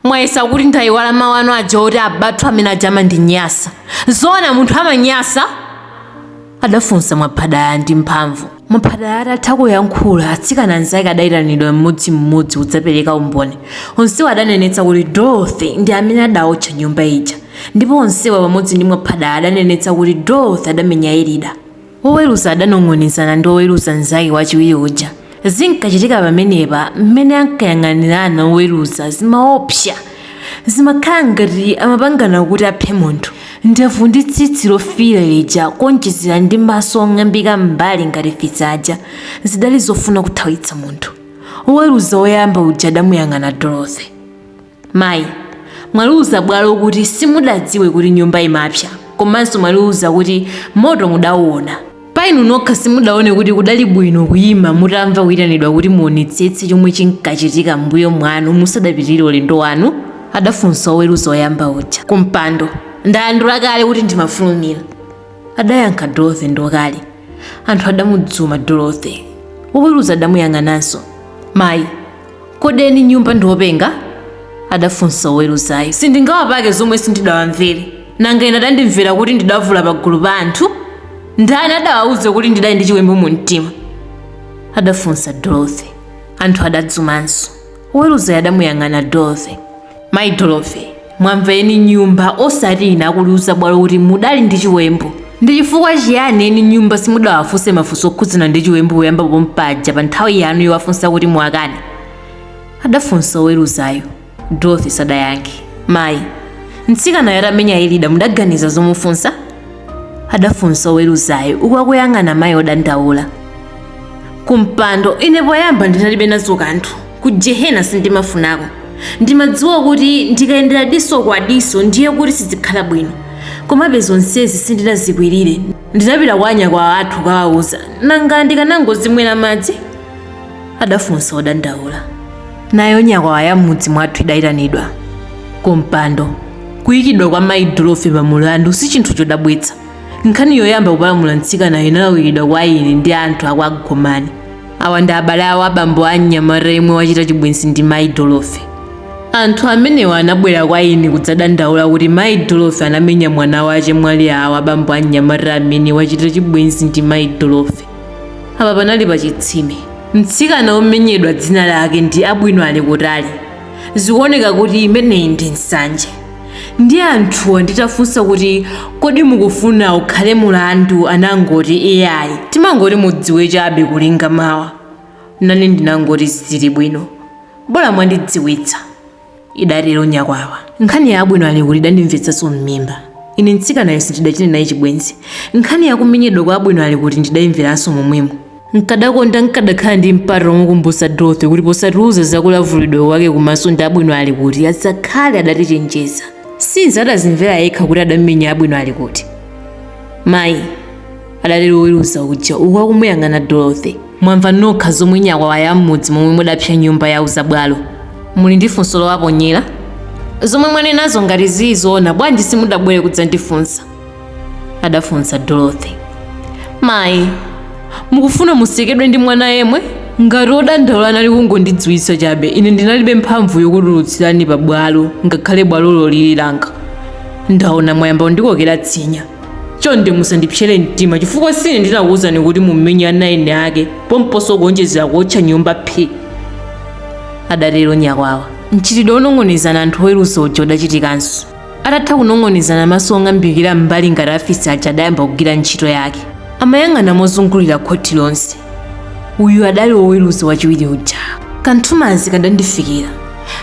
Mwayesa kuti ndaiwala mau anu aja oti abathu amene aja amandinyasa. Zoona munthu amanyasa? adafunsa Mwaphadala ndi mphamvu. Mwaphadala atatha kuyankhula, atsikana anzake adaitanidwa mmodzimmodzi kudzapereka umboni. Onsewa adanenetsa kuti Dorothy ndi amene adaotcha nyumba ija. Ndipo onsewa pamodzi ndi Mwaphadala adanenetsa kuti Dorothy adamenya Elida. Woweruza adanong'onezana ndi woweruza mnzake wachiwiri uja. Zinkachitika pamenepa, mmene ankayang'anirana woweruza zimaopsa. Zimakhala ngati amapangana kuti aphe munthu. Ndevu ndi tsitsi lofiira lija kuonjezera ndi maso ong'ambika m'mbali ngati fisi aja zidali zofuna kuthawitsa munthu. Woweruza woyamba uja adamuyang'ana Dorothy. Mayi, Mwaliuza bwalo kuti simudadziwe kuti nyumba imapsa komanso mwaliuza kuti moto mudauona. Pa inu nokha simudaone kuti kudali bwino kuima mutamva kuitanidwa kuti muonetsetse chomwe chinkachitika m'mbuyo mwanu musadapitirire ulendo wanu? adafunsa woweruza woyamba uja. Kumpando, Ndalandula kale kuti ndimafulumira, adayankha Dorothy ndi ukali. Anthu adamudzuma Dorothy. Woweruza adamuyang'ananso. Mayi, kodi eni nyumba ndi openga adafunsa woweruzayo sindingawapake zomwe sindidawamvere nanga ine adandimvera kuti ndidavula pagulu pa anthu ndani adawauza kuti ndidali ndi chiwembu mu mtima adafunsa dorothy anthu adadzumanso woweruzayo adamuyang'ana dorothy Mai Dorothy, mwamva eni nyumba osati ine akuliuza bwalo kuti mudali ndi chiwembu. Ndi chifukwa chiyani eni nyumba simudawafunse mafunso okhudzana ndi chiwembu poyamba pompaja pa nthawi yanu yowafunsa kuti muwakane? Adafunsa oweruzayo. Dorothy sadayankhe. Mai, mtsikanayo atamenya Elida mudaganiza zomufunsa? Adafunsa oweruzayo uku akuyang'ana mai odandaula. Kumpando, ine poyamba ndinalibe nazo kanthu. Ku jehena sindimafunako. Ndimadziwa kuti ndikayendera diso kwa diso ndiye kuti sizikhala bwino. Komabe zonsezi sindinazikwirire. Ndidapita kwa anyakwawa athu kukawauza. Nanga ndikanangozimwera madzi? adafunsa odandaula. Nayo nyakwawa ya m'mudzi mwathu idaitanidwa ku mpando. Kuikidwa kwa mayi Dorothy pa mulandu si chinthu chodabwitsa. Nkhani yoyamba kupalamula mtsikanayo inalawiridwa kwa ine ndi anthu a kwa Gomani. awa ndi abale awo a bambo a mnyamata yemwe wachita chibwenzi ndi mayi dorothy anthu amenewa anabwera kwa ine kudzadandaula kuti mayi dorothy anamenya mwana wa chemwali awo a bambo a mnyamata amene wachita chibwenzi ndi mayi dorothy apa panali pa chitsime mtsikana womenyedwa dzina lake ndi abwino ali kutali zikuoneka kuti imeneyi ndi nsanje Ndiye anthuwa nditafunsa kuti kodi mukufuna ukhale mulandu anangoti iyayi timangoti mudziwe chabe kulinga mawa. Nane ndinangoti zili bwino, bola mwandidziwitsa, idatero nyakwawa. Nkhani ya abwino ali kuti idandimvetsanso m'mimba. Ine mtsikanayo sindidachite naye chibwenzi. Nkhani ya kumenyedwa kwa abwino ali kuti ndidaimveranso momwemo. Nkadakonda nkadakhala ndi mpata womukumbutsa Dorothy kuti posatiuza za kulavulidwa kwake kumaso ndi Abwino ali kuti adzakhale adatichenjeza. Since adadzimvera yekha kuti adamenya Abwino ali kuti. Mayi, adatero woweruza uja uku akumuyang'ana Dorothy. Mwamva nokha zomwe nyakwawa ya m'mudzi momwe mudapsa nyumba yauza bwalo. Muli ndi funso lowaponyera? Zomwe mwanenazo ngati zili zoona bwanji simudabwere kudzandifunsa? adafunsa dorothy mayi mukufuna musekedwe ndi mwana yemwe ngati odandaula anali kungondidziwitsa chabe ine ndinalibe mphamvu yokutulutsirani pa bwalo ngakhale bwalolo lili langa ndaona mwayamba kundikokera tsinya chonde musandipsere mtima chifukwa sine ndinakuwuzani kuti mumenye ana eni ake pomponso kuonjezera kuotcha nyumba phi adatero nyakwawa mchitidwe wonong'onezana anthu oweruza uja udachitikanso Atatha kunong'onezana maso ong'ambikira m'mbali ngati afisi aja adayamba kugwira ntchito yake. Amayang'ana mozungulira khoti lonse. Uyu adali woweruza wachiwiri uja. Kanthumanzi kadandifikira.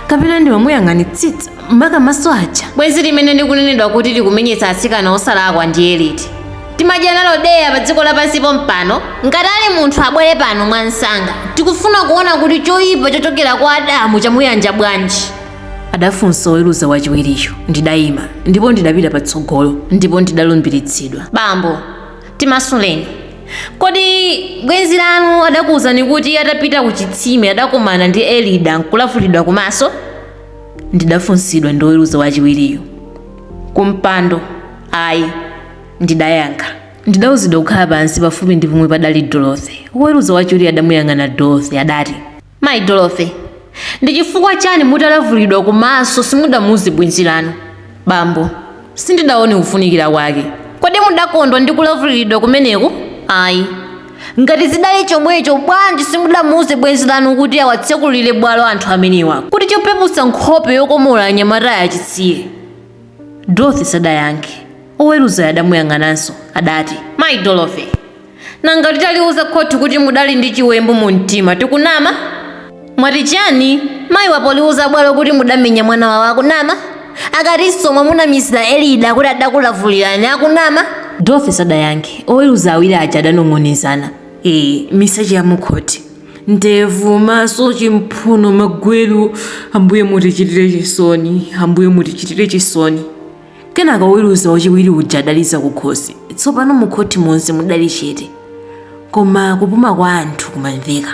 Kapena ndimamuyang'anitsitsa maka maso aja. Bwenzi limene likunenedwa kuti likumenyetsa atsikana osalakwa ndiye liti? Timadya nalo deya padziko lapansi pompano? Ngati ali munthu abwere pano mwansanga. Tikufuna kuona kuti choipa chochokera kwa Adamu chamuyanja bwanji. adafunsa oweruza wachiwiriyo. Ndidayima, ndipo ndidapita patsogolo, ndipo ndidalumbiritsidwa. Bambo, timasuleni. Kodi bwenzi lanu adakuwuzani kuti atapita ku chitsime adakomana ndi Elida nkulavulidwa kumaso? Ndidafunsidwa ndi oweruza wachiwiriyo. Kumpando, ayi, ndidayankha. Ndidawuzidwa kukhala pansi pafupi ndi pomwe padali Dorothy. Woweruza wachiwiriyo adamuyang'ana Dorothy, adati. Mayi Dorothy, ndi chifukwa chani mutalavuliridwa kumaso simudamuuze bwenzi lanu? Bambo, sindidaone kufunikira kwake. Kodi mudakondwa ndi kulavuliridwa kumeneku? Ayi. Ngati zidali chomwecho bwanji simudamuuze bwenzi lanu kuti awatsekulire bwalo anthu amenewa kuti chopeputsa nkhope yokomola anyamatayi achisiye? Dorothy sadayankhe. Oweruzayo adamuyang'ananso. Adati. Mayi Dorothy, Nanga titaliuza khoti kuti mudali ndi chiwembu mu mtima tikunama? Mwati chani? Mayi wa pouliuza bwalo kuti mudamenya mwana wawo akunama? Akutinso mwamunamizira Elida kuti adakulavulirani akunama? Dorothy sadayankhe. Oweruza awiri aja adanong'onezana. Ee, miseche ya mukhoti. Ndevu, maso, chimphuno, magweru. Ambuye mutichitire chisoni. Ambuye mutichitire chisoni. Kenaka woweruza wachiwiri uja adaliza kukhosi. Tsopano mu khoti monse mudali chete, koma kupuma kwa anthu kumamveka.